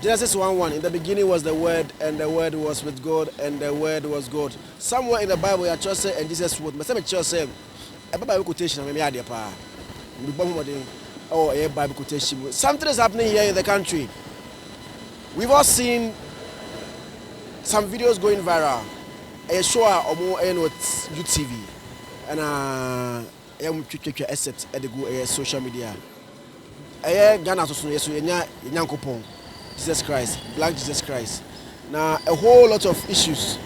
Genesis one one, In the beginning was the Word, and the Word was with God, and the Word was God. Somewhere in the Bible, yɛatwerɛ sɛ, And Jesus wrote. Mepɛ sɛ mekyerɛ wo sɛ, ɛba Bible quotation a, meyɛ adeɛ pa ara. Mebɔ ho mmɔden wɔ ɛyɛ Bible quotation mu. Something is happening here in the country. We've all seen some videos going viral. Ɛyɛ show a wɔn ɛyɛ no wɔ UTV, ɛna ɛyɛ wɔn twitwitwa ɛset ɛde gu ɛyɛ social media. Ɛyɛ Ghana so so yɛso yɛnya yɛ Nyankopɔn Jesus Christ black Jesus Christ na a whole lot of issues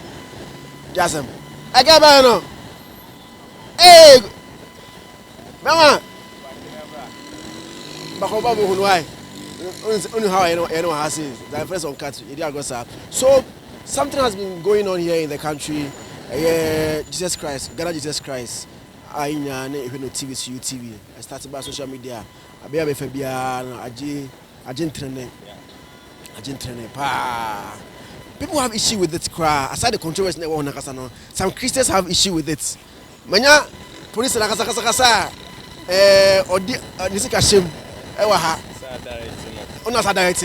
di asɛm. Ɛka bɛyɛ no ee bɛma bakɔba mu hunu ae only how I know I know how say the first on cut you go sir. So something has been going on here in the country. Uh, Jesus Christ, Ghana Jesus Christ. a yɛn nyinaa ne hwɛ no TV so UTV I start baa social media a bea a mefa biara no agye agye ntrene agye ntrene paa people have issue with it koraa aside the controversy na ɛwɔ ho nakasa no some Christians have issue with it manya polisi na kasakasakasa a ɛɛ ɔde ne sika hyɛm ɛwɔ ha ɔna sa direct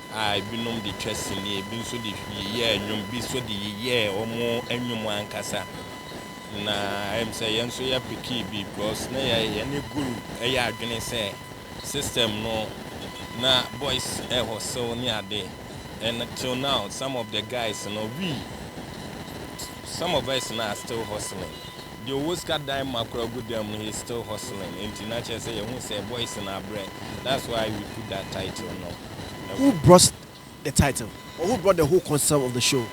a ebinom de twa sini, ebi nso de yeyɛɛ nnwom, ebi nso de yeyɛɛ wɔn nnwom ankasa. Na ɛyɛ me sɛ yɛn nso yɛpekee bi because na yɛ yɛne Guru yɛ adwene sɛ system no na boys ɛhɔ sew ne ade and till now some of the guys no we some of us no are still hustling. Deɛ ɔwɔ sika dan ma koraa gu dan mu he is still hustling enti na kyerɛ sɛ yɛhu sɛ boys no abrɛ that's why we put that title no Who ɛwɔ. brought the title or who brought the whole concept of the show?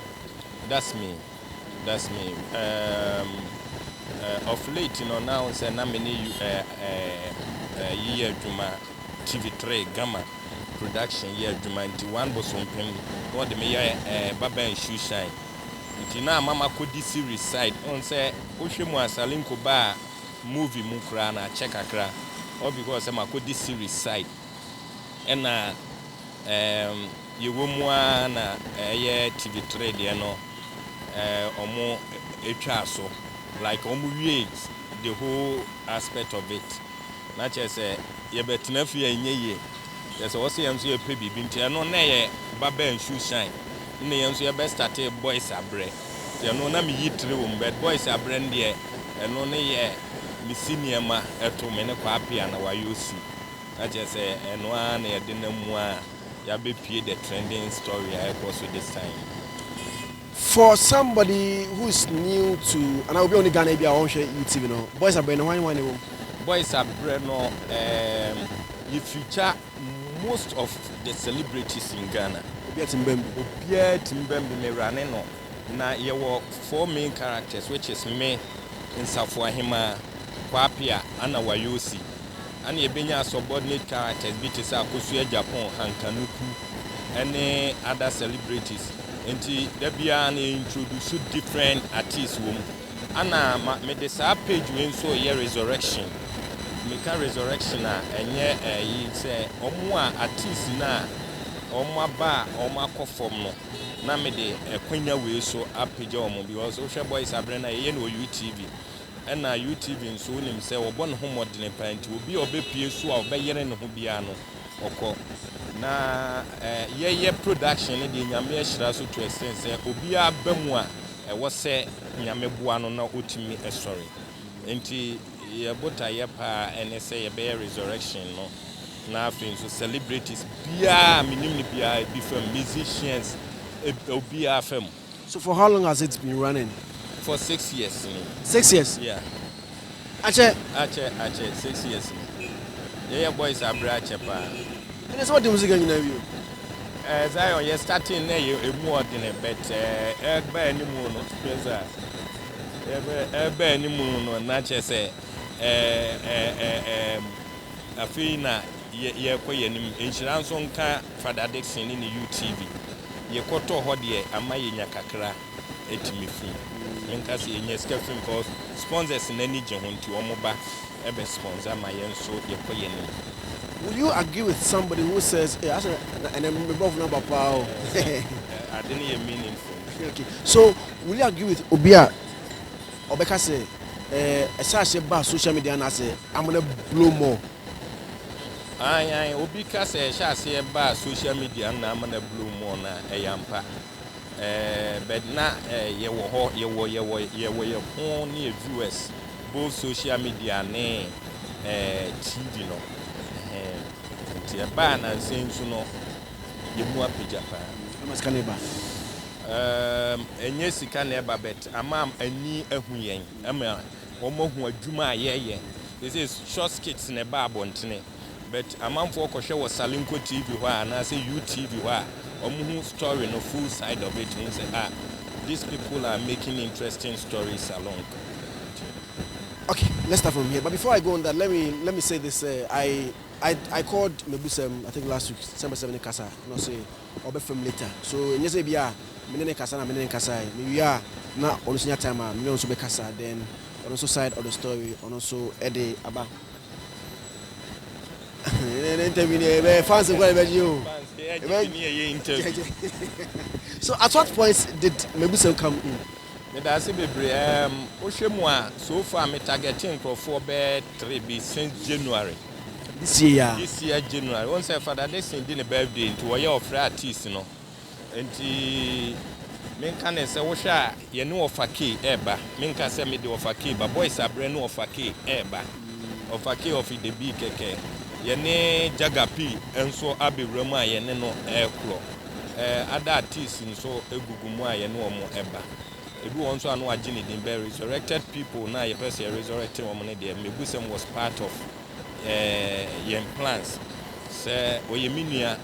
That's me that's me um eh of late no na wohu sɛ na me ne you eh eh eh yi yɛ adwuma TV three Gama production yɛ adwuma nti one bosompem na wɔde me yɛ eh Baba and Shoe Shine. Nti na ama makɔdi series side wohu sɛ wohwɛ mu a Salinko baa movie mu koraa no akyɛ kakra all because sɛ makɔdi series side ɛna ɛɛm yɛwɔ mu ara na ɛyɛ TV three deɛ no ɛɛ wɔn twaa so like wɔn wiee the whole aspect of it. Na kyerɛ sɛ yɛbɛtena fie a ɛnyɛ yie. Kyerɛ sɛ wɔse yɛn nso yɛpɛ biribi nti ɛno na yɛ ba bɛn shoe shine ɛna yɛn nso yɛbɛ starte boys abrɛ nti ɛno na meyi tire wɔ mu but boys abrɛ no deɛ ɛno ne yɛ mesi nneɛma ɛto me ne Kwapea na wayɛ osi na kyerɛ sɛ ɛno ara na yɛde nam mu a yɛabɛpue the trending story a ɛrekɔ so this time yi. For somebody who is new to anaa obi a ɔnni Ghana ebia ɔnhwɛ UTV no, Boys Abrɛ no hwan hwan na ɛwɔ mu? Boys Abrɛ no um yɛ feature most of the celebrities in Ghana. Obiara tumi bam bi. Obiara tumi bam bi, mewurane no. Na yɛwɔ four main characters which is me, Nsafo Ahemaa, Kwapea ɛna Wayosi. Ana ebenya subordinate characters bi te sɛ akosua Japon Hankanuku ne other celebrities nti da biara no yɛ introduce different artists wɔ mu. Ana ma mede saa page wei nso reyɛ resurrection. Meka resurrection a ɛnyɛ ɛyi sɛ wɔn a artists no a wɔn aba a wɔn akɔ fam no na mede ɛkwanya wei so apagya wɔn because wohwɛ boys abrɛ no a yɛyɛ no wɔ UTV Ɛna UTV nso wonim sɛ ɔbɔ ne ho mmɔdene paa nti obi a ɔbɛpue so a ɔbɛyere ne ho biara no ɔkɔ. Na yɛyɛ production no deɛ Nyame ahyira so to extent sɛ obiara ba mu a ɛwɔ sɛ Nyame boa no na ɔtumi sɔre. Nti yɛ botaeɛ paa ɛne sɛ yɛbɛyɛ resurrection no na afei nso celebrities biara a menim no biara bi fam, musicians obiara fam. So for how long has it been running? For six years ni. Six years? Yeah. Akyɛ? Akyɛ, akyɛ, six years ni. Yɛyɛ boys abrɛ akyɛ paa. Ɛne sɛ wode musika nyina wie o? Eh, Zion, yɛ starting na yɛ emu ɔdene, but eh, ɛba animu no, Speza, ɛba animu no, na kyɛ sɛ eh, eh, eh, eh, afei na Yɛ yɛrekɔ yɛn anim. Nhyira nso nka Father Dickson ne ne UTV. Yɛkɔtɔɔ hɔ deɛ ama yɛnya kakra tumi fi. Menka sɛ yɛnya sika fi mu cause sponsors no ani gye ho nti wɔn ba bɛ sponsor ma yɛn nso yɛkɔ yɛn anim. Will you agree with somebody who says eh asɛ na ɛnɛ me brɔfo no aba paa o hehe. Ade no yɛ meaningful nti. Okay so will you agree with obi a ɔbɛka sɛ eh ɛhyɛ aseɛ baa social media anaasɛ amena blow more. Aane aane obi ka sɛ ɛhyɛ aseɛ baa social media nna ama na blow mu ɔ na ɛyɛ ampa ɛɛ but na ɛɛ yɛ wɔ hɔ yɛ wɔ yɛ wɔ yɛ wɔ yɛ ho ne yɛ viewers both social media ne ɛɛ TV no ɛhɛn nti ɛbaa nansa yi nso no yɛ mu apagya paa. Ama sika no ɛba. Ɛɛm ɛnyɛ sika na ɛba but ama ani ahu yɛn ɛma. wɔahu adwuma a yɛyɛ. Seesei short skits na ɛba abɔntene but amanfoɔ kɔhwɛ wɔ Salinko TV hɔ a anaasɛ UTV hɔ a wɔhu story no full side of it hu sɛ ah these people are making interesting stories along nti. Ok let's start from here but before I go on that let me let me say this sɛ I I I called Mabusɛm I think last week sɛ mepɛ sɛ me ne kasa na ɔse. ɔbɛ fam later so ɛnyɛ sɛ ebia me ne ne kasa na me ne ne kasae me wie a na ɔno nso nya time a me ne no nso bɛ kasa then ɔno nso side of the story ɔno nso ɛde aba ne interview ne ɛbɛ fans kora ɛbɛ gye o ɛbɛ so at what point did mebusɛm come in. Meda ase bebree erm wohwɛ mu a so far me targɛte nkorɔfoɔ bɛyɛ three bi since January This year yaa. this year January wohu sɛ Father Dickson di ne birthday nti wɔyɛ ɔfrɛ artist no nti me nka ne sɛ wohwɛ a yɛne Ɔfa Kay ɛɛba me nka sɛ mede Ɔfa Kay ba boys abrɛ ne Ɔfa Kay ɛɛba Ɔfa Kay of Idebee kɛkɛ yɛne Jagger P nso abɛwura mu a yɛne no ɛɛkorɔ. ada artists nso gugu mu a yɛne wɔn ba. Ebi wɔ hɔ nso a na wɔagye ne din bɛ resurrected people no a yɛpɛ sɛ yɛ resurrect wɔn no deɛ Mmebusɛm was part of yɛn plans sɛ ɔyɛ me nua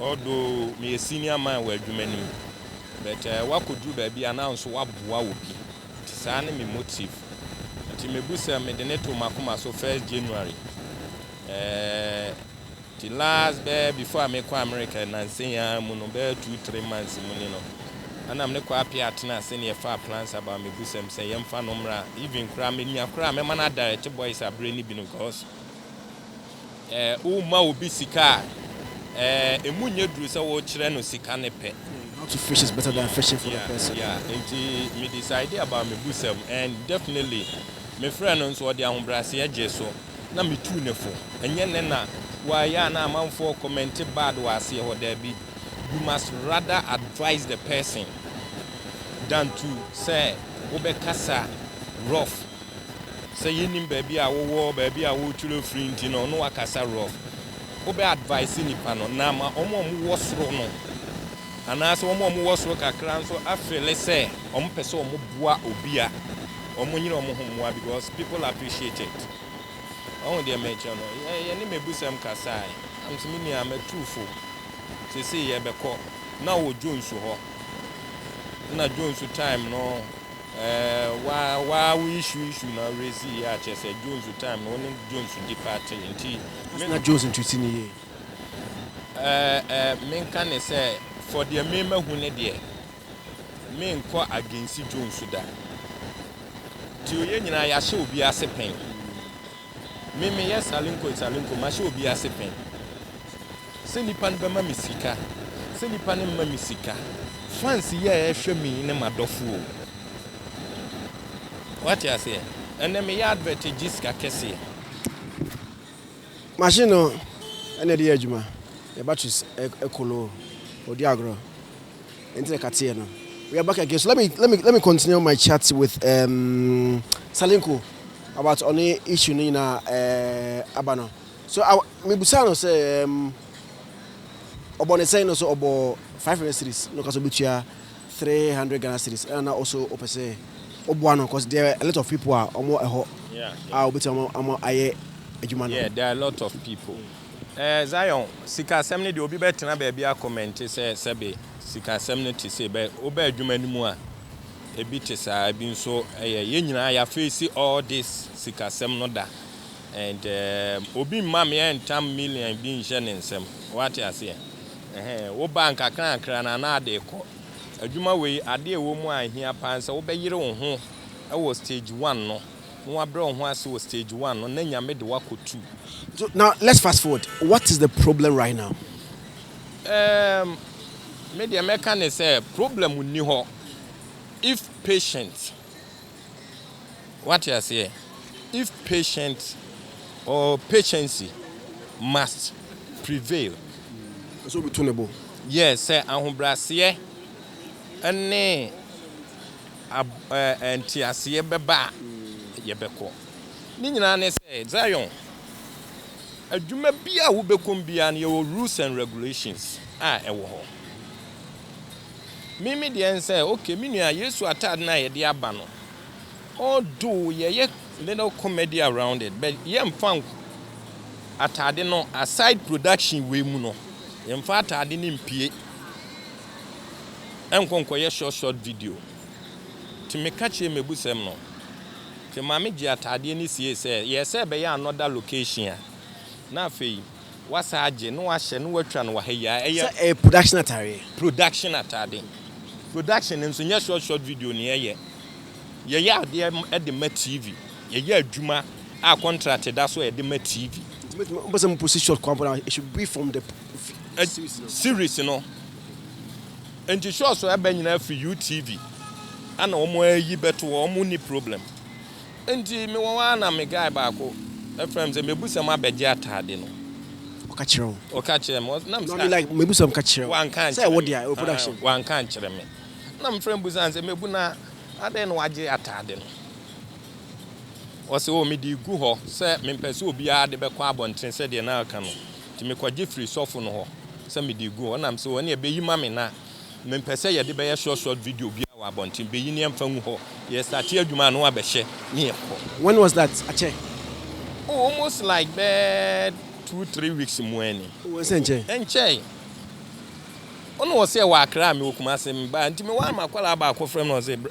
although meyɛ senior man wɔ adwuma no mu but wakɔduru baabi a na nso waboa obi nti saa ne me motive nti Mmebusɛm mede ne too m'akoma so first January ɛɛ. Nti last bɛyɛ before a mekɔ America nnansa yi ara mu no, bɛyɛ two three months mu ni no, ana me ne Kwapea atena ase ne yɛfaa plans about mebusam sɛ yɛmfa no mmra, even koraa menya koraa a mɛma no adirect boys aberɛ no bi no cos eh, woma obi sika a eh, ɛmu nyɛ duru sɛ wokyerɛ no sika no pɛ. Yeah, not to fish is better than fishing for the Yeah, person. yeah, nti me decide about mebusam and definitely mefrɛɛ no nso ɔde ahobrɛaseɛ gyee so. na me tuu no fo. Ɛnyɛ nnɛ na waa yɛ a na amanfoɔ kɔmɛnte bad wɔ aseɛ hɔ, daabi, you must rather advise the person than to sɛ wo bɛ kasa rough, sɛ yɛ nnim baabi a wo wɔ, baabi a wo twerɛ firi nti no na wa kasa rough. Wo bɛ advise nipa no na ama wɔn a wɔn wɔ soro no anaasɛ wɔn a wɔn wɔ soro kakra nso afeele sɛ wɔn pɛ sɛ wɔn boa obia. Ɔmo nyina ɔmo ho mmoa because people appreciate it wahu deɛ merekyerɛ no yɛ yɛne mabusɛm kasae na mese me nua matuu fo seesei yɛbɛkɔ na ɔwɔ Jones hɔ na Jones time no ɛɛ wa wa wo issue issue na raise yɛ akyɛ sɛ Jones time no ɔne Jones di party nti Ɔse na Jones ntreati no yie. ɛɛ ɛɛ menka ne sɛ for deɛ me mahu ne deɛ Menkɔ agensi dwo nso da. Deɛ ɔyɛ nyinaa yɛahyɛ obi ase pɛn. Me meyɛ salenko salenko mahyɛ obi ase pɛn. Sɛ nipa no bɛma me sika sɛ nipa no mma me sika. Fans yi a ɛhwɛ me yi ne m'adɔfo o. Wate aseɛ? Ɛnɛ meyɛ advert gye sika kɛseɛ. Machine no na ɛde yɛ adwuma. Yɛ batteries ɛkoloo. Ɔdi agorɔ. Enti na kateɛ no. We are back again so let me let me let me continue my chat with um, Salinko about ɔne issue no nyinaa uh, aba no so mebusaa no sɛ um, ɔbɔ ne sɛn no so ɔbɔ 500 series no ka so bɛtua 300 Ghana series ɛna na ɔso ɔpɛ sɛ ɔboa no cause there are a lot of people a ɔmo ɛhɔ a ɔbɛtua ɔmo ayɛ adwuma no yeah there are a lot of people Ɛɛ Zion, sikasɛm no deɛ obi bɛtena baabi akɔmɛnte sɛ sɛbe sikasɛm no te sei, bɛ woba adwuma no mu a, ebi te saa, ebi nso ɛyɛ, yɛn nyinaa yɛafeesi all this sikasɛm no da, and ɛɛm obi mma me ɛntam million bi nhyɛ ne nsam, woate aseɛ? Ɛhɛn, woba nkakrankra no a na ade rekɔ. Adwuma wei, adeɛ a ɛwɔ mu a ɛhia paa ne sɛ wobɛyere wo ho wɔ stage one no, Wo abrɛ wo ho ase wɔ stage one no na Nyame de wo akɔ two. So now let's fast forward, what is the problem right now? Ehm, me deɛ mɛka ne sɛ problem nni hɔ if patient, wate aseɛ, if patient or patiency must prevail. Ɛsɛ sɛ obi to ne bo. Yes, sɛ ahobrɛaseɛ ne. a nteaseɛ bɛba a, yɛbɛkɔ. Ne nyinaa ne sɛ, Zion, adwuma biara a wobɛkɔ mu biara no, yɛwɔ rules and regulations a ɛwɔ hɔ. Me me deɛ ne sɛ, okay, me nua, Yesu ataade no a yɛde aba no, although yɛyɛ little comedy around it, but yɛmfa nko ataade no aside production wei mu no, yɛmfa ataade no mpue. ɛnkɔ nkɔyɛ short short video nti meka kyerɛɛ m'abusɛm no nti maame gyee ataadeɛ no siee sɛ yɛɛ sɛ ɛbɛyɛ another location a na afei wasa agye na wahyɛ na watwa no wɔ ha yi a ɛyɛ Sɛ ɛyɛ production ataadeɛ. production ataade production no nso nyɛ short short video na yɛyɛ yɛyɛ adeɛ m- de ma TV yɛyɛ adwuma a contract da so a yɛde ma TV. Nti mɛtumi, wopɛ sɛ moposi short koraa mpo no a, it should be from the series no nti show so ɛbɛ nyinaa firi UTV ana wɔn ayi bɛto hɔ wɔn ni problem nti me wɔn ara na me guy baako ɛfrɛ me sɛ mebusam abɛgye ataade no ɔka kyerɛ wo ɔka kyerɛ me na me sɛ like mebusam ka kyerɛ wo wanka nkyerɛ me sɛ wɔ production wanka nkyerɛ me na me frɛ mbusan sɛ mebu na adɛn na wagye ataade no ɔsɛ wɔ mede gu hɔ sɛ mempɛ sɛ obiara de bɛkɔ abɔnten sɛdeɛ na aka no Nti mekɔgye firii sɔfo no hɔ sɛ mede regu hɔ. Ɛnna mese, O, ɛnneɛ bɛyi ma me na mempɛ sɛ yɛde bɛyɛ short short video biara wɔ abɔnten. Bɛyi na yɛmfa ngu hɔ. Yɛstate adwuma a na wabɛhyɛ na yɛkɔ. When was that? Akyɛ? Oh, almost like bɛyɛ two, three weeks mu ni. Oh, ɛnsɛ ɛnkyɛ? Ɛnkyɛe. Ɔno ɔse ɛwɔ Accra, mewɔ Kumase. Mebaa, nti mewaa m'akwadaa baako frɛ me na ɔse,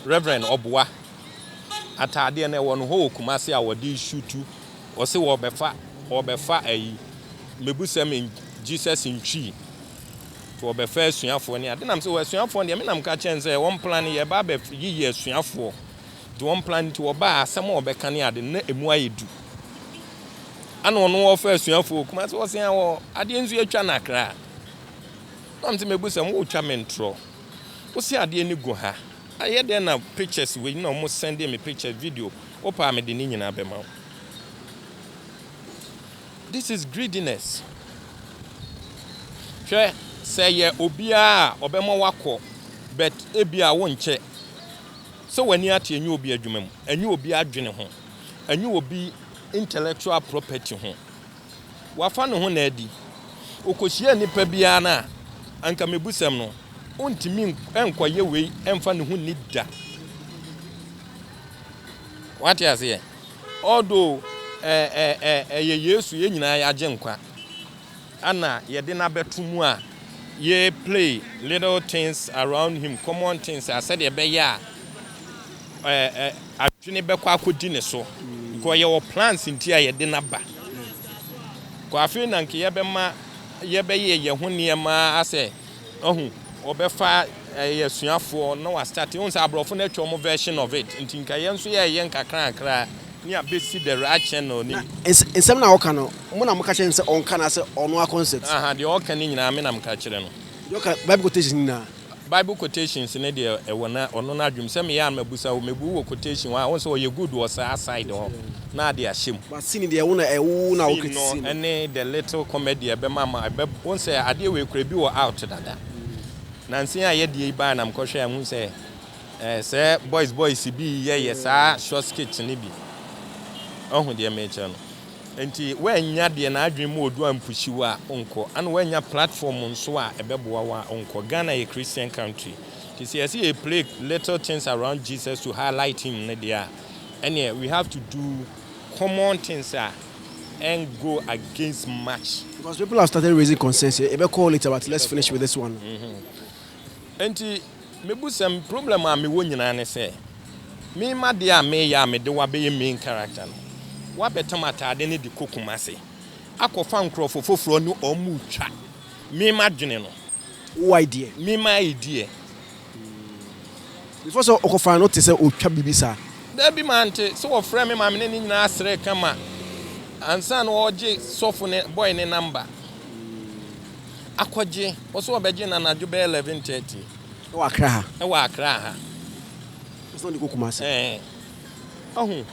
Reverend, ɔboa ataadeɛ no ɛwɔ no hɔ wɔ Kumase a wɔde resutu. Wɔse wɔbɛfa wɔbɛfa ayi mebusɛm in Jesus ntwi nti wɔbɛfa asuafoɔ ne ade nam sɛ asuafoɔ deɛ me nam ka kyɛn sɛ wɔn plan no yɛba abɛ yiyi asuafoɔ nti wɔn plan nti wɔba asɛm a wɔbɛka ne ade na emu ayɛ du ana ɔno wɔfa asuafoɔ kuma sɛ wɔse a wɔ adeɛ nso atwa na kra nam sɛ mebusɛm wotwa mentorɔ wose adeɛ ne gu ha Ɛyɛ dɛn na pictures wei na wɔn sɛnde me pictures video wopɛ a mede ne nyinaa bɛma wo this is greediness hwɛ sɛ ɛyɛ obiara a ɔbɛma wakɔ but ebi a wonkyɛ sɛ w'ani ate ɛnyɛ obi adwuma mu ɛnyɛ obi adwene ho ɛnyɛ obi intellectual property ho. wafa ne ho na adi. Okohyiaa nipa bi ara no a, anka mebusɛm no, ontumi nkɔyɛ wei mfa ne ho nni da. Wate aseɛ? Although ɛyɛ Yesu yɛn nyinaa yɛagye nkwa, ana yɛde no abɛto mu a, yɛ play little things around him, common things a sɛdeɛ ɛbɛyɛ a adwene bɛkɔ akɔdi ne so because yɛwɔ plans nti a yɛde no aba because afei na nka yɛbɛma yɛbɛyɛ yɛn ho nneɛma asɛ ahu ɔbɛfa ɛyɛ eh, asuafoɔ na wastate hu sɛ aborɔfo no atwa wɔn version of it nti nka yɛn nso yɛyɛ nkakrankra ne abɛsi the right channel ni nsɛm na ɔka no mo na moka kyerɛ no sɛ ɔnka no asɛ ɔno a concept aha deɛ ɔka no nyinaa me na meka kyerɛ no deɛ ɔka bible quotations nyinaa Bible quotations no deɛ ɛwɔ na ɔno no adwem sɛ meyɛ a mabusa wo mebu wɔ quotation hɔ a wonsɛ ɔyɛ good wɔ saa side hɔ na ade ahyɛ mu. But scene deɛ wo na ɛwo wo na wo Scene no kritisi no. ɛne the little comedy ɛbɛma ma ɛbɛ wonsɛ adeɛ wei kora ebi wɔ out dada nansen a yɛdeɛ yi baɛ na mekɔ hwɛ a mehu sɛ ɛɛ sɛ boys boys bi yɛ yɛ saa short skit no bi wahu deɛ mekyerɛ no. Enti woannya deɛ n'adwene mu ɔdu ampusiw a, wonkɔ. Ana woannya platform nso a ɛbɛboa wo a, wonkɔ. Ghana yɛ Christian country. Nti sɛ yɛse yɛ play little things around Jesus to highlight him no deɛ a, ɛneɛ we have to do common things a ɛn go against much. Because people have started raising concerns, yɛbɛkɔ hɔ later but let's finish with this one. Enti. Mebusɛm, Problem a mewɔ nyinaa ne sɛ me m'adeɛ a meyɛ a mede wo abɛyɛ main character no wabɛtam ataade no de kɔ Kumasi akɔfa nkorɔfo foforɔ ne wɔn retwa me m'adwene no. Wo idea. Me m'idea. Before sɛ ɔkɔ fa no te sɛ ɔtwa biribi saa. Dabi mante sɛ wɔfrɛ me ma me ne ne nyinaa srɛ kama ansa na ɔregye sɔfo no boy no number. akɔgye, ɔse ɔbɛgye no anadwo bɛyɛ 11:30. Ɛwɔ Accra ha? Ɛwɔ Accra ha. Ɔse ɔde kɔ Kumasi? Ɛɛ. Wahu?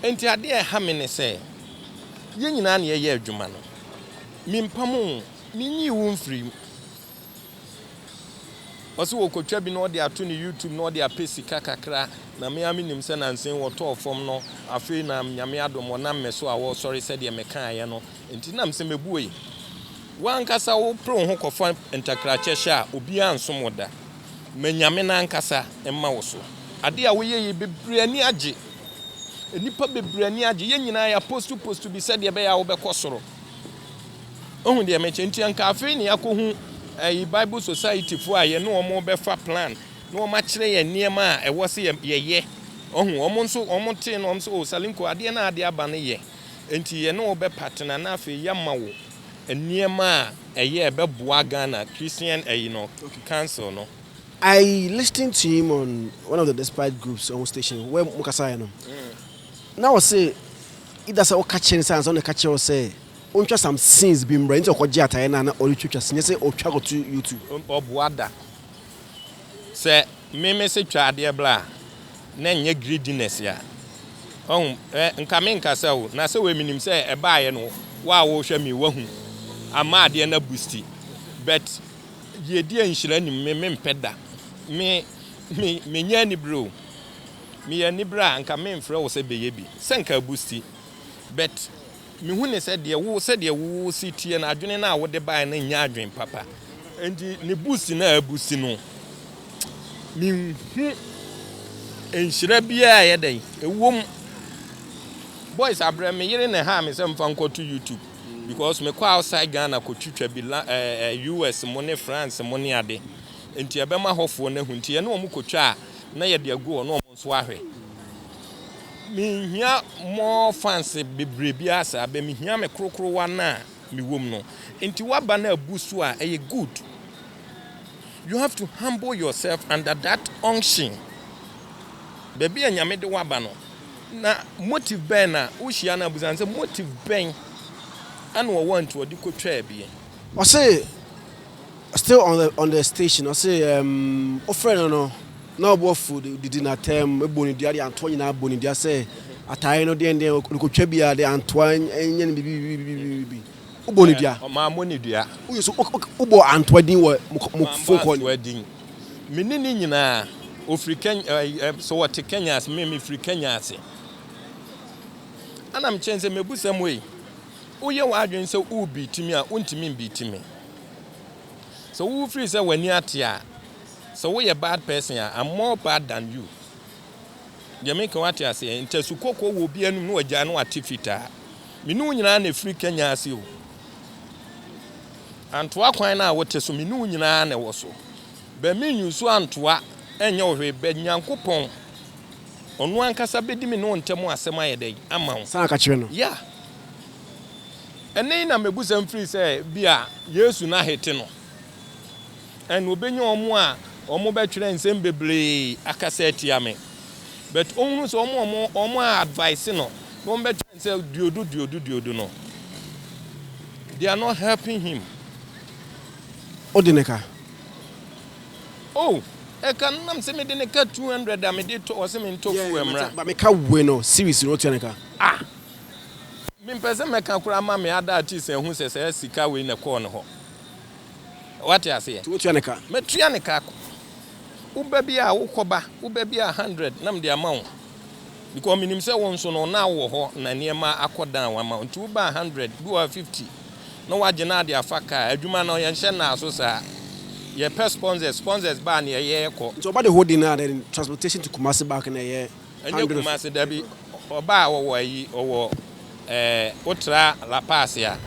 Enti adeɛ a ɛha me ne sɛ, yɛn nyinaa na yɛyɛ adwuma no. Mempamo wo, menyii wo mfirii mu. Ɔse ɔkɔtwa bi na ɔde ato ne YouTube na ɔde apɛ sika kakra, na me ara menim sɛ nansa yi wɔtɔɔ fam no, afei na Nyame adom, ɔnam me so a ɔresɔre sɛdeɛ mekaeɛ no. Enti na mese mɛbue. Wo ankasa wopere wo ho kɔfa ntakrakyɛ hyɛ a obiara nsom wo da. Ma Nyame no ankasa mma wo so. Adeɛ a woyɛ yi bebree ani agye. Nnipa bebree ani agye. Yɛn nyinaa yɛapostu postu bi sɛdeɛ ɛbɛyɛ a wobɛkɔ soro. Wohu deɛ mekyɛ? Enti anka afei na yɛakɔhu ɛyi Bible Society foɔ a yɛne wɔn rebɛfa plan na wɔakyerɛ yɛn nneɛma a ɛwɔ sɛ yɛyɛ. Wohu? Wɔn nso wɔtee no wɔn se o Salinko adeɛ no a ade aba no yɛ. Enti yɛne wo bɛpatena na afei yɛama wo nneɛma a ɛyɛ a ɛbɛboa Ghana Christian ayi no, Council no. I listened to him on one of the despite groups wɔn station where mo kasaeɛ no na ɔse either sɛ woka kyerɛ no sɛ ansa na ɔka kyerɛ wo sɛ ontwa some scenes bi mmrɛ nti ɔkɔgye ataeɛ no a na ɔretwatwa nyɛ sɛ ɔtwa kɔto YouTube. Ɔboa da. Sɛ me mese twa adeɛ bra a, na ɛnyɛ greediness a. Wahu? Ɛ, nka menkasa o, na sɛ wei menim sɛ ɛbaeɛ no, wo a wohwɛ me, wahu, ama adeɛ no abusti. But, deɛ ɛdi nhyira nim, me mempɛ da. Me, me, menyɛ anibere o. Meyɛ anibere a, nka memfrɛ wo sɛ bɛyɛ bi, sɛ nka abusti. But. Mehu no sɛ deɛ wo, sɛdeɛ wo se teɛ no, adwene no a wode baeɛ no nyɛ adwene papa. Enti ne bo si no a abu si no, menhu nhyira biara a ɛyɛ dɛn, ɛwom, boys abrɛ me yere na ɛhaa me sɛ mfa nkɔto YouTube because mekɔ outside Ghana kɔtwitwa bi la, ɛɛ, eh, US mo ne France mo ne ade. Enti ɛbɛma hɔfoɔ no ahu. Enti yɛne wɔn kɔtwa a, na yɛde agu hɔ na wɔn nso ahwɛ. Minhia more fans bebree biara saa but mehia me krokrowa no a mewɔ mu no. Nti w'aba no abu so a ɛyɛ good. You have to humble yourself under that unction. Baabi a Nyame de w'aba no na motive bɛn na wohyia no abusa no sɛ motive bɛn ɛna ɔwɔ a nti ɔde kɔtwaa bi. Ɔse still on the on the station ɔse emm wofrɛ no no. Na ɔbɔfo de didi n'atɛm bɔ ne dua de antoa nyinaa bɔ ne dua sɛ atae no deɛn deɛn ɔrekɔtwa biara de antoa nyɛ no bibibibibibibi. Wobɔ ne dua. Ɔma abɔ ne dua. Woyɛ so wobɔ antoa din wɔ mo mo phone call. Antoa din. Me ne ne nyinaa ɔfiri Kenya ɛɛ sɛ wɔte Kenya ase me mefiri Kenya ase. Ɛna mekyɛn sɛ mɛbusa mu ei woyɛ w'adwene sɛ worebeati me a wontumi mbeati me. Sɛ wofiri sɛ w'ani ate a. Sɛ woyɛ bad person a I'm more bad than you deɛ meka wate aseɛ ntasu kɔkɔɔ wɔ obi anum na wagyae na wate fitaa me ne wo nyinaa na ɛfiri Kenya ase o Antoa kwan no a wote so me ne wo nyinaa na ɛwɔ so bɛ me use Antoa ɛnyɛ wo hwee bɛ Nyankopɔn ɔno ankasa bɛdi me ne wo ntɛm asɛm ayɛ dɛn ama wo San ka kyerɛ no. Yeah ɛnɛ yi na mɛbu sɛm firi sɛ bia Yesu no ahete no. and obenya wɔn a wɔn bɛtwerɛ nsɛm bebree akasa atia me but ɔhunu sɛ wɔn a wɔn wɔn a advice no na wɔn bɛtwerɛ nsɛ duodu duodu duodu no they are not helping him. O de ne ka. Oh, ɛka no nam sɛ mede ne ka 200 a mede tɔ ɔsɛ me ntɔ fuel mmra. Ba me ka we no series no tua ne ka. Ah. Mempɛ sɛ mɛka koraa ma me ada artist ahu sɛ sɛ sika wei na kɔɔ ne hɔ. Wate aseɛ? Nti wotua ne ka? Mɛtua ne ka. Wo ba bi a wokɔ ba, wo ba bi a hundred na mede ama wo. Because menim sɛ wo nso no na wowɔ hɔ na nneɛma akɔ down ama wo. Nti wo ba a hundred, bi wɔ hɔ a fifty na wagye na ade afa kaa. Adwuma no yɛnhyɛ nnaa so saa. Yɛpɛ sponsors, sponsors ba a nea ɛyɛ kɔ. Nti ɔba de whole day no ara then transportation to Kumasi back na ɛyɛ? Ɛnyɛ Kumasi dabi ɔbaa a ɔwɔ ayi ɔwɔ ɛɛ wotra La Paz a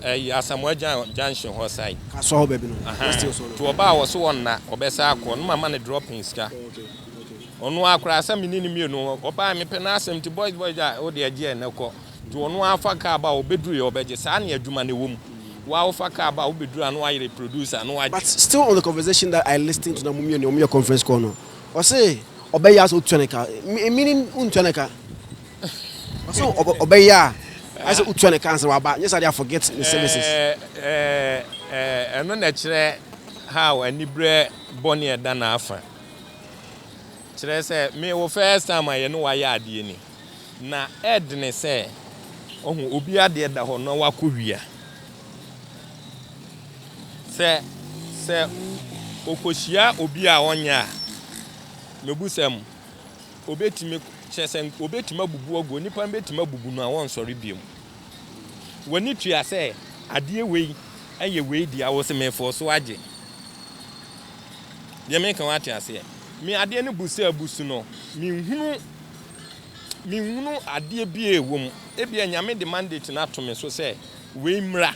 ɛyi Asamoah Gyan junction hɔ side. Kasɔ hɔ baabi no. Ahaa West Hills hɔ no. nti ɔbaa wɔ so ɔnna ɔbɛsa akɔ no ma ma ne dropping sika. Ɔno ara koraa sɛ me ne no mmienu ɔbaa me pɛ n'asɛm nti boys boys a wo deɛ gyeɛ na kɔ nti ɔno ara fa car ba ɔbɛduru yɛ ɔbɛgye saa ne adwuma no ɛwɔ mu wo ara wo fa car ba wobɛduru a na wayere producer na wagye. But still on the conversation that I listen to na mo mmienu ɔmo yɛ conference call no Ɔse ɔbɛyɛ a sɛ wotua ne ka. Meaning wontua ne ka. Ɔse ɔbɛyɛ a ayɛ sɛ wotua ne ka ansa na waba. Nyɛ saa de a forget ne services. Ɛno na ɛkyerɛ how aniberɛ bɔne a ɛda n'afa. Kyerɛ sɛ me wo first time a yɛne wo ayɛ adeɛ ni na ɛdene sɛ ɔho obi adeɛ da hɔ na wakɔ wia. Sɛ sɛ okohyia obi a ɔnyɛ a, mebisa mu, obetumi, kyerɛ sɛ obetumi abubu agu, onipa no betumi abubu no a wɔnsɔre bio. W'ani tua sɛ adeɛ wei ɛyɛ wei deɛ awosemefoɔ so agye. Deɛ meka wate aseɛ. Me adeɛ no bu sɛ abusu no, menhunu menhunu adeɛ bi a ɛwɔ mu. Ebia nyame de mandate no ato me so sɛ wei mmra.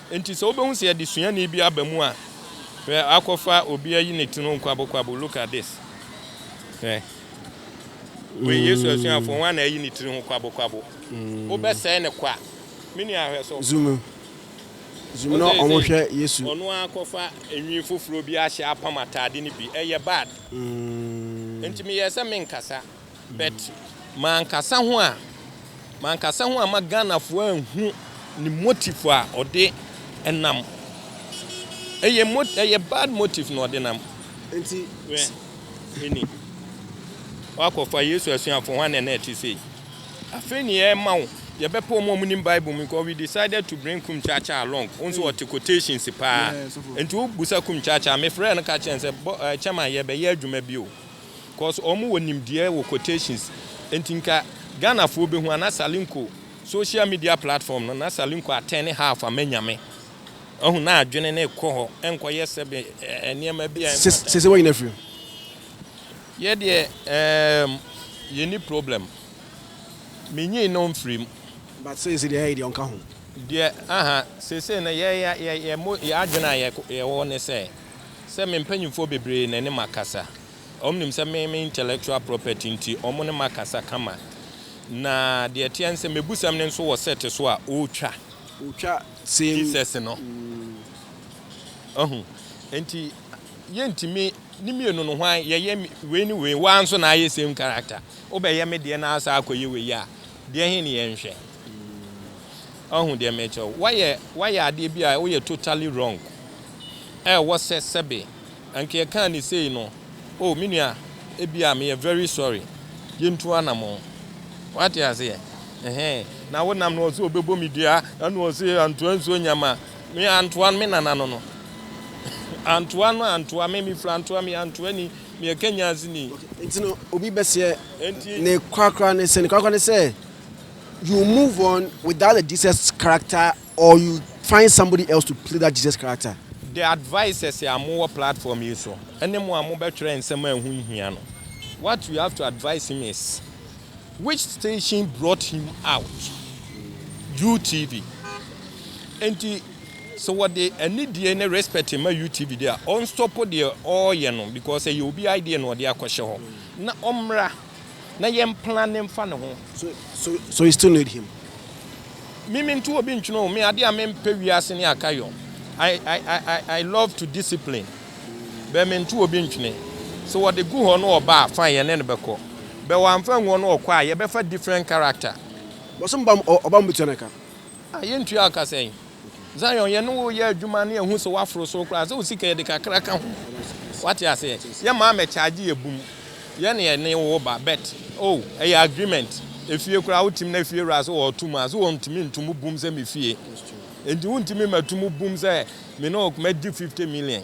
Enti sɛ wubehu sɛ yɛde suani bi aba mu a, hwɛ akɔfa obi ayi ne ti no nkwabokwabo, look at this. Hwɛ. Wei Yesu asuafo hwan na ayi ne tiri ho kwabokwabo? Wobɛsɛe no kwa. Me nua hwɛ so. Zoom in. Zoom in na wɔhwɛ Yesu. Ɔno ara kɔfa nwi foforo bi ahyɛ apam atade no bi. Ɛyɛ bad. Enti meyɛɛ sɛ merenkasa. But mankasa ho a mankasa ho amma Ghanafoɔ anhu ne motive a ɔde nam. Ɛyɛ mo ɛyɛ bad motive na ɔde nam. Nti hwɛ ɛni wakɔfa Yesu asuafoɔ ho ana na ɛte sei. Afei ne yɛrema wo yɛbɛpɛ wɔn a wɔnim Bible mu because we decided to bring Kumchacha along. Wo nso ɔte quotations paa. Nti wobusa Kumchacha mefrɛɛ no ka kyerɛɛ no sɛ bɔ ɛɛ chairman yɛbɛyɛ adwuma bi o. cos ɔmo wɔ nimdeɛ wɔ quotations nti nka Ghana foɔ bɛhu a na Salinko social media platform no na Salinko atɛne half ama Nyame wahu na adwene no rekɔ hɔ ɛnkɔ yɛ sɛbe nneɛma bi a ɛmfa time. Sese wanyini afiri mu. Yɛ deɛ eemm yɛnni problem me nyini no mfiri mu. But sese deɛ ɛɛyi deɛ ɔnka ho. Deɛ ahaa sese no yɛ yɛ yɛ yɛ mo yɛ adwene a yɛ yɛwɔ ne sɛ. Sɛ me mpanyimfoɔ bebree na ɛne me akasa. Wɔn nim sɛ me me intellectual property nti wɔn ne me akasa kama. Na deɛ ɛteɛ ne sɛ m'abusɛm no nso wɔ set so a ɔretwa. Ɔretwa same. Jesus no. Wahu? Enti yɛntumi ne mmienu no hwan yɛyɛ wei ne wei wo ara nso na ayɛ same character. Wobɛyɛ me deɛ na asan akɔyɛ wei a deɛ he ne yɛnhwɛ? Wahu deɛ merekyerɛ wo? Woayɛ woayɛ adeɛ bi a woyɛ totally wrong. ɛwɔ sɛ sɛbe anka yɛkaa no sei no, oh, me nua, ebia meyɛ very sorry, yɛntu anamɔn. Woate aseɛ? Ɛhɛn. Na wo nam no ɔse ɔbɛbɔ me dua, ɛna ɔse antoa nsuo nyama me, antoa me nana no no. antoa no, antoa me, mefiri antoa me, antoa ni, meyɛ Kenyans ni. Okay, nti no, obi bɛseɛ, Enti. ne korakora ne sɛn? Ne korakora ne sɛ, you move on without the Jesus character Or you find somebody else to play that Jesus character. The advisers a mo wɔ platform yi so ɛne mo a mo bɛ twerɛ nsɛm a ɛho nhia no what you have to advise him is which station brought him out UTV nti sɛ wɔde anidie ne respect ma UTV deɛ ɔnstɔpo deɛ ɔɔyɛ no because ɛyɛ obi idea na ɔde akɔhyɛ hɔ na ɔmmra na yɛn mpena ne mfa ne ho. So so so you still need him. Me me nto obi ntwene o me ade a me mpɛ wiase ne akayɔ I I I I love to discipline bɛ me nto obi ntwene sɛ wɔde gu hɔ no ɔba a fine yɛne no bɛkɔ bɛ wɔamfa angu hɔ no ɔkɔ a yɛbɛfa different character. Bɔsom bam ɔ ɔbam betua ne ka. Ah yɛntua ka sɛn. Zion, yɛne wo yɛ adwuma na yɛahu sɛ woaforo soro koraa, sɛ wo sika yɛde kakra ka ho. Woate aseɛ? Yɛ maa mɛ charge yɛ bum. Yɛ ne yɛne wo ba, but oh, ɛyɛ agreement. Efie koraa wotim na efie wura sɛ ɔɔto mu a, sɛ wɔntumi nto mu bum sɛ me fie. Enti wontumi mɛto mu bum sɛ me ne wo mɛgye 50 million.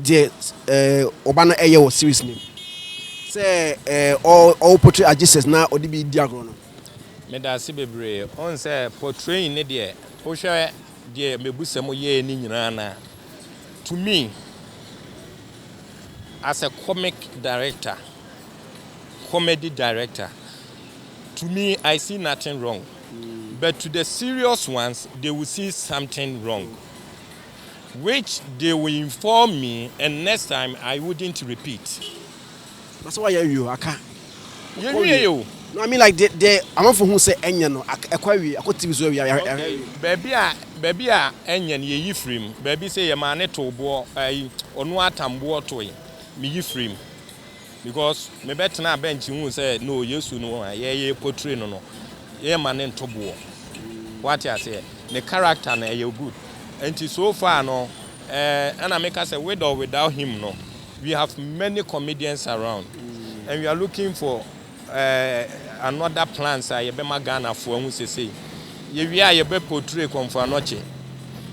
Deɛ eh, ɔba no ɛyɛ wɔ series nim sɛ eh, ɔwɔ portray a Jesus na ɔde bi di agorɔ no. Meda ase bebree. Wohu sɛ portraying ne deɛ, wohwɛ deɛ Mebusɛm yɛɛ ne nyinaa no a, to me, as a comic director, comedy director, to me, I see nothing wrong. But to the serious ones, they will see something wrong. Which they will inform me and next time I wouldn't repeat. Na sɛ wayɛ awie o, aka. Yɛ wiee o. No I mean like deɛ deɛ amanfoɔ hu sɛ ɛnyɛ no, aka, ɛkɔ awie, akɔ TV so awie, yɛ yɛahwɛ awie. Okay, baabi a, baabi a ɛnyɛ no yɛyi firi mu, baabi sɛ yɛmaa no too boɔ, ayi, ɔno ara tam boɔ toe, meyi firi mu. Because me bɛ tenaa bɛnkye huu sɛ no Yesu no a yɛ yɛ portray no no yɛ ma ne nto boɔ wate aseɛ ne character no ɛyɛ good nti so far no eh ɛna me ka sɛ with or without him no we have many comedians around and we are looking for eh another plans a yɛ bɛ ma Ghana foɔ ahu sesei. Yɛwie a yɛbɛ portray Kɔmfo Anɔkye,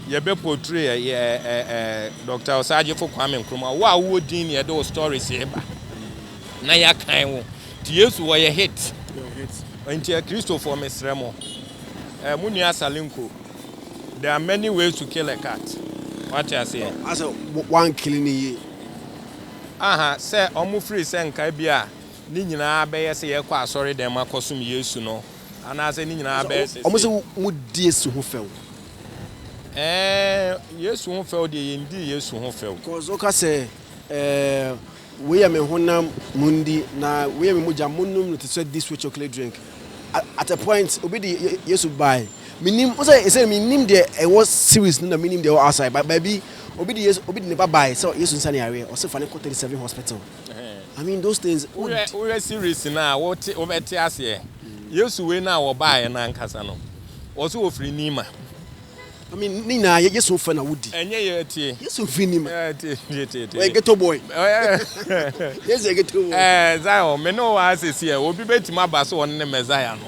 yɛbɛ portray eh, eh, eh, eh, Doctor Osagyefo Kwame Nkrumah, wo a wowɔ din na yɛde wo stories yi ba na yɛakan wo. Nti Yesu wɔyɛ hit. Nti Akristofoɔ mesrɛ mo, eh, mo nua Salinko, there are many ways to kill a cat, wate aseɛ? Asɛ wankili ne yie. Aha, sɛ ɔmo firi sɛ nka ebia ne nyinaa bɛyɛ sɛ yɛkɔ asɔredɛm akɔsom Yesu no, Anaasɛ ne nyinaa bɛyɛ sese? Wɔn sɛ wɔn di Yesu ho fɛw. Ɛɛn, Yesu ho fɛw deɛ, yɛn di Yesu ho fɛw. Cause ɔka sɛ, Ɛɛn, wei yɛ me honam, mon di, na wei yɛ me mogya, mon nom no te sɛ this sweet chocolate drink. At a point, obi de Yesu bae. Me nim, wɔn sɛ, ɛsɛ me nim deɛ ɛwɔ series no na me nim deɛ ɛwɔ outside, but baabi, obi de Yesu, obi de ne ba bae sɛ Yesu nsa ne yareɛ, ɔse fa no nkɔ 37 hospital. I mean those things. Wohwɛ series no a wote wobɛte aseɛ. Yesu wei no a wɔbaeɛ no ankasa no wɔso wɔfiri Nima. I mean ne nyinaa yɛ Yesu fɛ na wodi. Ɛnyɛ yɛ tie. Yesu firi Nima. Ɛɛ tie tie tie tie. Ɔyɛ ghetto boy. Yesu yɛ ghetto boy. Ɛɛ Zion me ne wo wɔ ase si ɛ obi bɛtumi aba so ɔne ne Messiah no.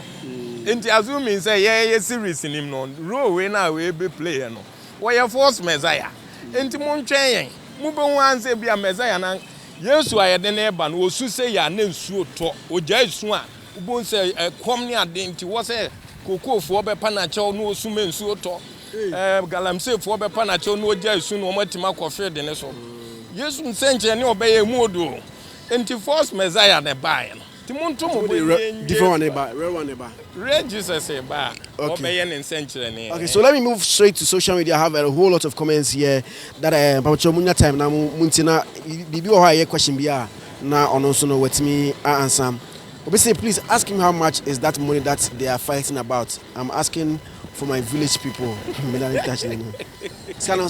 Nti assuming sɛ yɛyɛ series nim no role wei no a wei bɛ play yɛ no. Wɔyɛ false Messiah nti montwɛn yɛn mobɛhu ansɛ ebia Messiah no ank Yesu a yɛde no reba no ɔsu sei a na nsuo tɔ ɔgyae su a wobɛhu sɛ ɛkɔm ne ade nti wɔ sɛ Kokofoɔ bɛpa no akyɛw na ɔsu ma nsuo tɔ ɛɛ Galamseyfoɔ bɛpa no akyɛw na ɔgyae su na wɔn atumi akɔ field no so Yesu nsɛnkyerɛnne a ɔbɛyɛ ɛmu ɔdɔ o nti false Messiah na ɛbaeɛ no. Nti monto mo bo nnye nnye. Different one ne ba, real one ne ba. Real Jesus reba a, wɔbɛyɛ ne nsɛnkyerɛnne. Okay so let me move straight to social media I have a whole lot of comments here that eh mpabokyɛw mo nya time na mo mo ntie na biribi wɔ hɔ a ɛyɛ question bi a na ɔno nso no watumi a ansa obi say please ask him how much is that money that they are fighting about I'm asking for my village people me na me ka kyerɛ no sika no.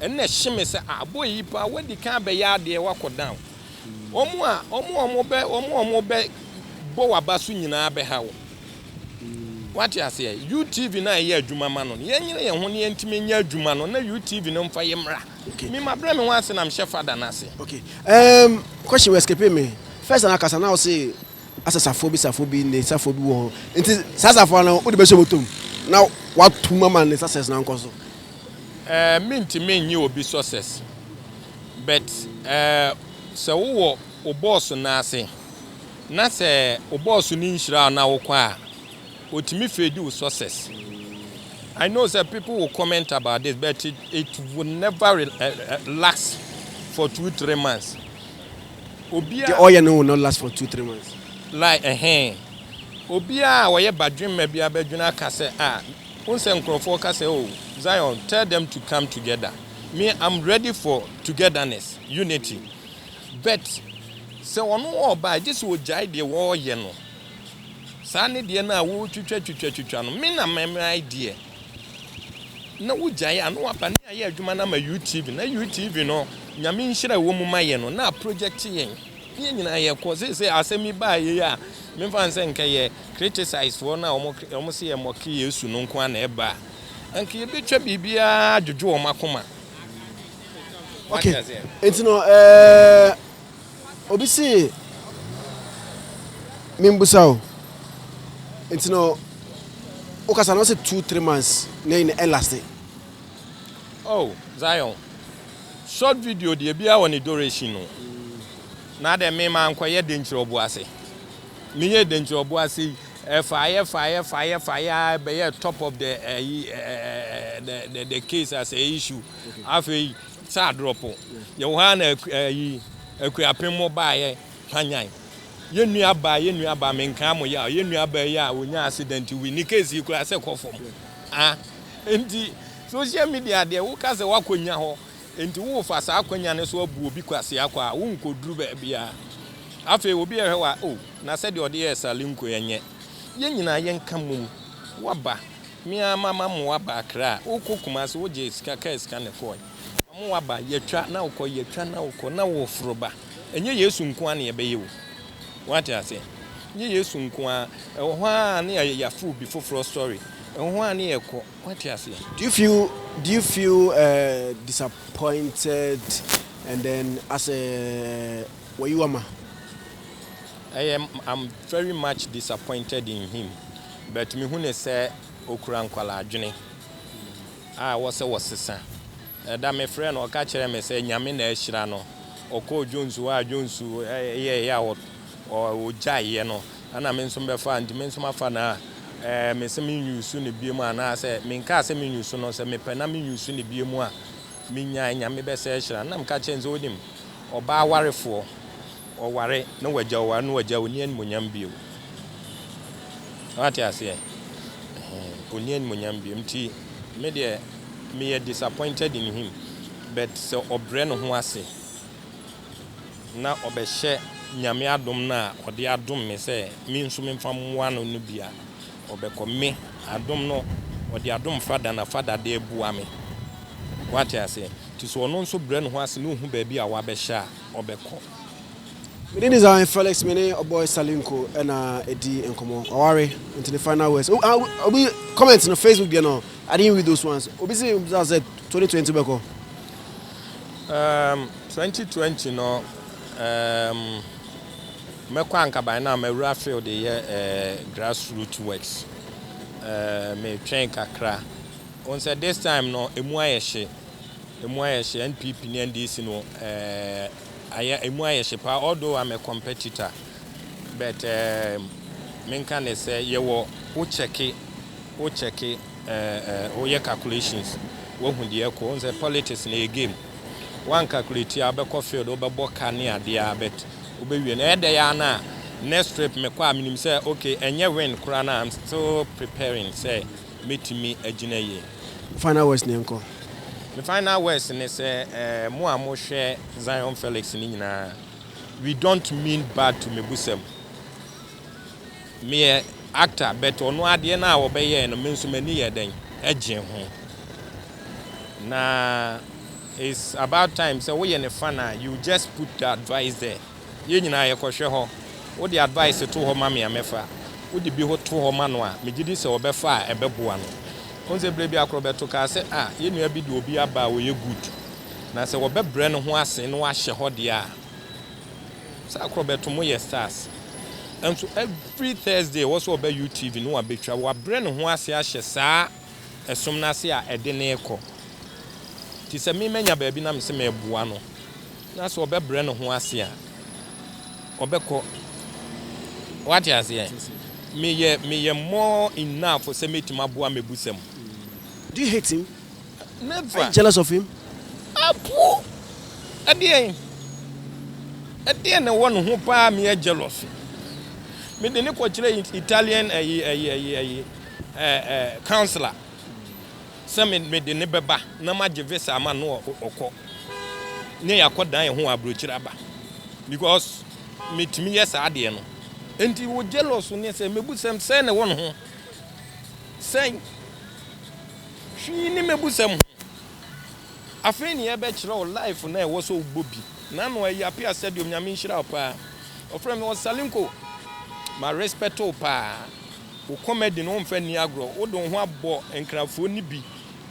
Ɛnna ɛhye me sɛ, ah, boy yi paa, wadi kan abɛyɛ adeɛ, wakɔ down. Wɔn a wɔn a wɔbɛ wɔn a wɔbɛbɔ w'aba so nyinaa bɛha wo. Wate aseɛ? UTV no a yɛyɛ adwuma ma no no, yɛnyere yɛn ho na yɛntumi nyɛ adwuma no na UTV no mfa yɛn mmra. Okay. Me mabrɛ me ho ase na mehyɛ Father no ase. Okay. Um, question escape me. First na kasa na wo se asɛ safoa bi, safoa bi, ne safoa bi wɔ hɔ. Nti saa safoa no wode bɛhyɛ bɔtɔ mu na woato mu ama ne success no ankɔ so. Eh, mentumi nnye obi success. But eh, sɛ wowɔ wo bɔɔso no ase, na sɛ wo bɔɔso no nhyira wo na wokɔ a, otumi fedi wo success. I know sɛ people will comment about this, but it, it will never relax for two, three months. Deɛ ɔyɛ no will not last for two three months. Like ɛhee. Obiara a ɔyɛ badwemma biara bɛdwene aka sɛ ah wohu sɛ nkorɔfoɔ ka sɛ oh Zion tell them to come together me I'm ready for togetherness, unity but sɛ ɔno ɔɔba a gye sɛ ɔgyae deɛ ɔɔyɛ no saa ne deɛ no a wotwitwa twitwa twitwa no me na mɛmɛae deɛ. na wo gyae a na waba ne ayɛ adwuma no ama UTV na UTV no nyame nhyira ɛwɔ mu ma yɛ no na project yɛn ne yɛ nyinaa yɛ kɔ seesei asɛm yi baa yɛ a memfa nsɛ nka yɛ criticize foɔ no a wɔn se yɛ mɔke Yesu no nko a na ɛba a nka yɛbɛtwa biribiara adwodwo wɔn akoma okay enti no ɛɛ eh, Obi se menbusa wo nti no wokasa no ɔse two three months na ɛyi na ɛlaste. Oh Zion short video deɛ biaa wɔ ne duration no na dɛ me ma nkɔyɛ denkyirɛ ɔboase me yɛɛ denkyirɛ ɔboase yi ɛfaeɛ faeɛ faeɛ faeɛ aa ɛbɛyɛɛ top of the ɛyi ɛɛ the the the case as a issue afei. Sɛ adorɔpo, yɛwɔ hɔ ara na ayi Akuapem mo baeɛ hwanyan yɛn nuabaa, yɛn nuabaa, menkaa mo yaw, yɛn nuabaa yi a ɔnya accident wi, ne case yi koraa sɛ kɔ fam. Ah, nti social media deɛ woka sɛ woakɔnya hɔ, nti wofa saa akwanya no so abu obi kwasea kɔ a, wonkɔduru baabiara. Afei obi ɛhwɛ wa, oh, na sɛdeɛ ɔde yɛɛ Sally Nkoy ɛnyɛ. Yɛn nyinaa yɛnka mmom, woaba. Me ara mama mo aba Accra a wokɔ Kumasi wogye sika kaa sika na ɛkɔɔe. Mama wo aba yɛtwa na wokɔ yɛtwa na wokɔ na woforo ba. Ɛnyɛ Yesu nko ara na yɛbɛyɛ o. Woate aseɛ? Ɛnyɛ Yesu nko ara. Ɛwɔ hɔ ara na yɛ yɛaforo obi foforɔ sɔre. Ɛwɔ hɔ ara na yɛkɔ. Woate aseɛ? Do you feel do you feel eh disappointed and then as a wayiwama? Ɛyɛ I'm very much disappointed in him. But mehu no sɛ ɔkura nkwalaadwene a ɛwɔ sɛ wɔsesa. Ɛda mefrɛɛ no ɔka kyerɛɛ me sɛ Nyame na ahyira no, ɔkɔɔ Jones hɔ a Jones yɛeɛ a ɔgyaeɛ no ɛna me nso bɛfaa nti me nso mafa no a mese me use no biom anaasɛ menkaa sɛ me use no sɛ mepɛ na me use no biom a menyae Nyame bɛsɛ ahyira no na meka kyerɛɛ no sɛ wonim ɔbaa awarefoɔ Ɔware na wagya, ɔware na wagya, ɔnni animuonyam bio. Woate aseɛ? Ɔnni animuonyam bio. Nti me deɛ, meyɛ disappointed in him, but sɛ ɔbrɛ ne ho ase na ɔbɛhyɛ Nyame adom no a ɔde adom me sɛ me nso memfa mmoa no no bi a, ɔbɛkɔ. Me, adom no, ɔde adom Father na Father de aboa me. Woate aseɛ? Nti sɛ ɔno nso brɛ ne ho ase na ɔhu baabi a wabɛhyɛ a, ɔbɛkɔ. Me din design Felix me ne ɔboy Salinko na edi nkɔmɔ waware nti ne final words oh, ah, obi comment no Facebook deɛ no I didn't read those ones obi si bisa sɛ 2020 bɛkɔ um, 2020 no um, mɛkɔ ankaban na mawura field yɛ uh, grassroot works uh, metwɛn kakra wɔn sɛ this time no emu ayɛ hye Emu ayɛ hye NPP ne NDC no eh ayɛ emu ayɛ hye paa although I'm a competitor but eh menka ne sɛ yɛwɔ wo kyɛke wo kyɛke eh eh wo yɛ calculations wahu deɛ ɛkɔ wohu sɛ politics no ɛyɛ game one calculate a wobɛkɔ field wobɛbɔ ka ne adeɛ a but wobɛwie no ɛyɛ dɛyɛ a na next trip mekɔ a menim sɛ okay ɛnyɛ win koraa na I'm still preparing sɛ mɛtumi agyina yie. Final words no yɛnkɔ. Me final words ne sɛ eh, mo a mo hwɛ Zion Felix no nyinaa, we don't mean bad to Mebusam. Me yɛ actor but ɔno adeɛ no a ɔbɛyɛɛ no me nso m'ani yɛ dɛn ɛgyee ho. Na it's about time sɛ woyɛ ne fan a you just put the advice there. Yɛn nyinaa yɛkɔhwɛ hɔ. Wode advice to hɔ ma me a mɛfa. Wode bi ho to hɔ ma no a, megye di sɛ ɔbɛfa a ɛbɛboa no. Wohu sɛ berɛ bi akorɔ bɛto kaa sɛ, Ah, yɛn nua bi de obi aba a ɔyɛ good, na sɛ wɔbɛbrɛ ne ho ase na wahyɛ hɔ deɛ a, sɛ akorɔ bɛto moyɛ stars. Nso every Thursday ɛwɔ sɛ ɔba UTV na wabɛtwa. Wabrɛ ne ho ase ahyɛ saa ɛsom no ase a ɛde no rekɔ. Enti sɛ me manya baabi na mese mereboa no, na sɛ ɔbɛbrɛ ne ho ase a, ɔbɛkɔ. Woate aseɛ? Meyɛ, meyɛ more enough sɛ mɛtumi aboa Mebusa mu. Do you hate him? Never. Are you jealous of him? Apoo! Ɛdeɛn? Ɛdeɛn na ɛwɔ ne ho paa a meyɛ jealous? Mede no kɔkyerɛɛ Italian ɛyi, ɛyi, ɛyi, ɛyi, councilor sɛ me de no bɛba na magye visa ama no a ɔkɔ ne yɛakɔ dan ho aburokyiri aba because metumi yɛ saa adeɛ no nti wo jealous ne sɛ mebusɛm sɛ ne wɔ ne ho sɛn hwii ne mebusɛm ho afei ne yɛbɛkyerɛ wo life na ɛwɔ sɛ wobɔ bi na no ɛyɛ apia sɛdeɛ onyame nhyira wo paa ɔfrɛ me ɔsalenko ma respect wo paa Wo kɔma di no wo mfa nni agorɔ wode wo ho abɔ nkrafoɔ no bi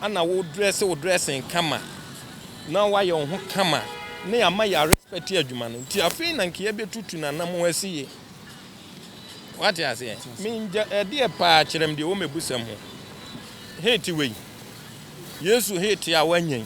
ana wo dress wo dressing kama na wayɛ wo ho kama na yɛama yɛ respect adwuma no nti afei na nka yɛbɛtutu nanam wo asi ye wate aseɛ mengya ɛdeɛ paa kyerɛm deɛ wɔ mɛbusɛm ho hate wei yesu hate a wanyɛn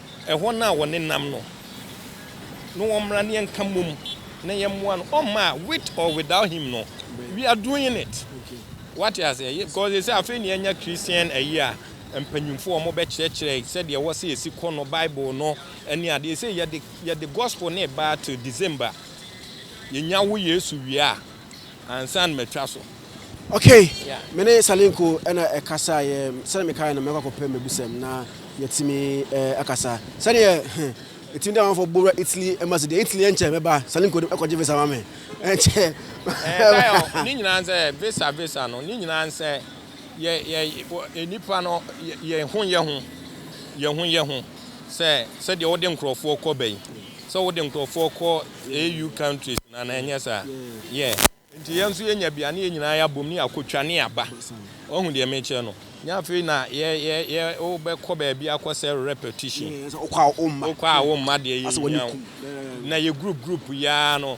Ɛhɔ no a wɔnenam no no wɔmmra na yɛnka mmom na yɛmmoa no ɔmma a with or without him no we are doing it wate aseɛ because ɛsɛ afei ne yɛanya Christian ayi a mpanyimfoɔ wɔn bɛkyerɛkyerɛ sɛdeɛ ɛwɔ sɛ yɛsi kɔ no Bible no ɛne adeɛ sɛ yɛde yɛde gospel ne baa till December yɛnya wo Yesu wie a ansa na matwa so. Okay, me ne Salinko na ɛkasaeɛ, sɛdeɛ mekaeɛ no mɛkɔ akɔpɛ mmɛbusɛm na yɛatumi akasa. Sɛdeɛ ɛtumi da amanfoɔ bowura Italy embassy deɛ Italy ɛnkyɛ mɛba, Salinko de ɛkɔgye visa ma me, ɛnkyɛ. Ɛɛ, ne nyinaa nsɛ visa visa no, ne nyinaa nsɛ yɛ yɛ nnipa no yɛ ho yɛ ho, yɛ ho yɛ ho sɛ sɛdeɛ wode nkurɔfoɔ kɔ bɛyi, sɛ wode nkurɔfoɔ kɔ AU countries na na ɛnyɛ saa yeah nti yɛn nso yɛnya bi a na yɛn nyinaa yɛabom ne yɛakɔtwa ne yɛaba wahu deɛ mekyerɛ no nyɛ afei na yɛ yɛ yɛ wobɛkɔ baabi akɔsɛ repetition wokɔ a womma deɛ yɛhia wo na yɛ group group yaa no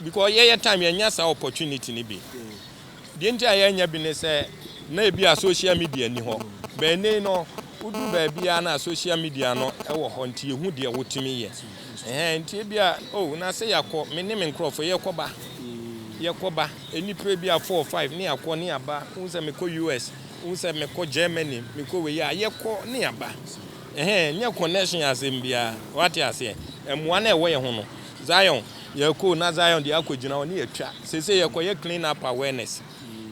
because yɛyɛ time yɛnya saa opportunity no bi Deɛ nti a yɛnyɛ bi ne sɛ, na ebia social media nni hɔ. But nnɛyi no, wodu baabiara no a social media no wɔ hɔ nti yɛhu deɛ wotumi yɛ. Ɛhɛn, nti ebia oh na sɛ yɛakɔ, me ne me nkorɔfoɔ yɛkɔba, yɛkɔba, nnipa ebia four, five ne yɛakɔ ne yɛaba. Wohu sɛ mekɔ US, wohu sɛ mekɔ Germany, mekɔ wei a, yɛkɔ ne yɛaba. Ɛhɛn, nyɛ connection asɛm biara, woate aseɛ? Mmoa no a ɛwɔ yɛn ho no, Zion. Yɛkɔ na Zion deɛ akɔ gyina hɔ ne yɛatwa. Seesei yɛkɔ yɛ clean up awareness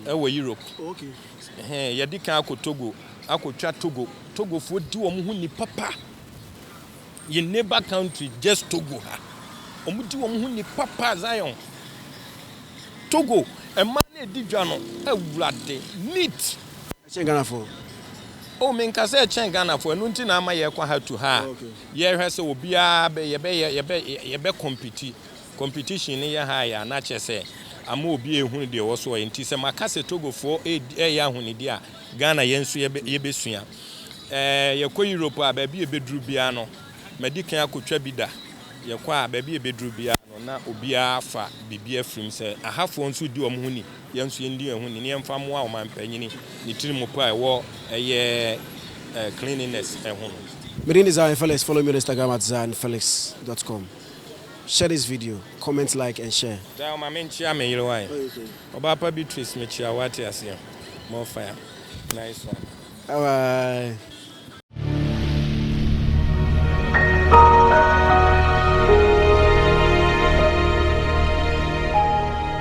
ɛwɔ Europe. Ɛhɛn yɛdi kan akɔ Togo akɔ twa Togo. Togofoɔ di wɔn ho ni papa. Yɛn neighbor country just Togo ha. Wɔn di wɔn ho ni papa Zion. Togo mmaa na ɛdi dwa no awurade neat. Ɛkyɛn Ghanafoɔ. Oh menkasɛ ɛkyɛn Ghanafoɔ ɛno nti na ama yɛkɔ ha to ha. Yɛhwɛ sɛ obiara bɛ yɛbɛyɛ yɛbɛ yɛbɛ kɔmpiti competition no yɛ high a na kyerɛ sɛ ama obi ehunu deɛ ɔwɔ so ɔyɛ nti sɛ maka sɛ Togofoɔ edi ɛyɛ ahonidi a Ghana yɛn nso yɛbɛ yɛbɛsua ɛɛ yɛkɔ Europe a baabi a ebeduru biara no madi kan akotwa bi da yɛkɔ a baabi a ebeduru biara no na obiara afa biribi afirim sɛ ahafoɔ nso di wɔn ho ni. Yɛn nso yɛndi yɛn ho ni na yɛmfa mmoa ɔmanpanyin ne tirimupɔ a ɛwɔ ɛyɛ cleanliness ho no. Me din de Zion Felix follow me on Instagram at zionfelix dot com share this video comment like and share. Zion ma me nkyea me yere wae. Ɔbaa pa Beatrice me kyea wo wate aseɛ more fire nice one. Alright.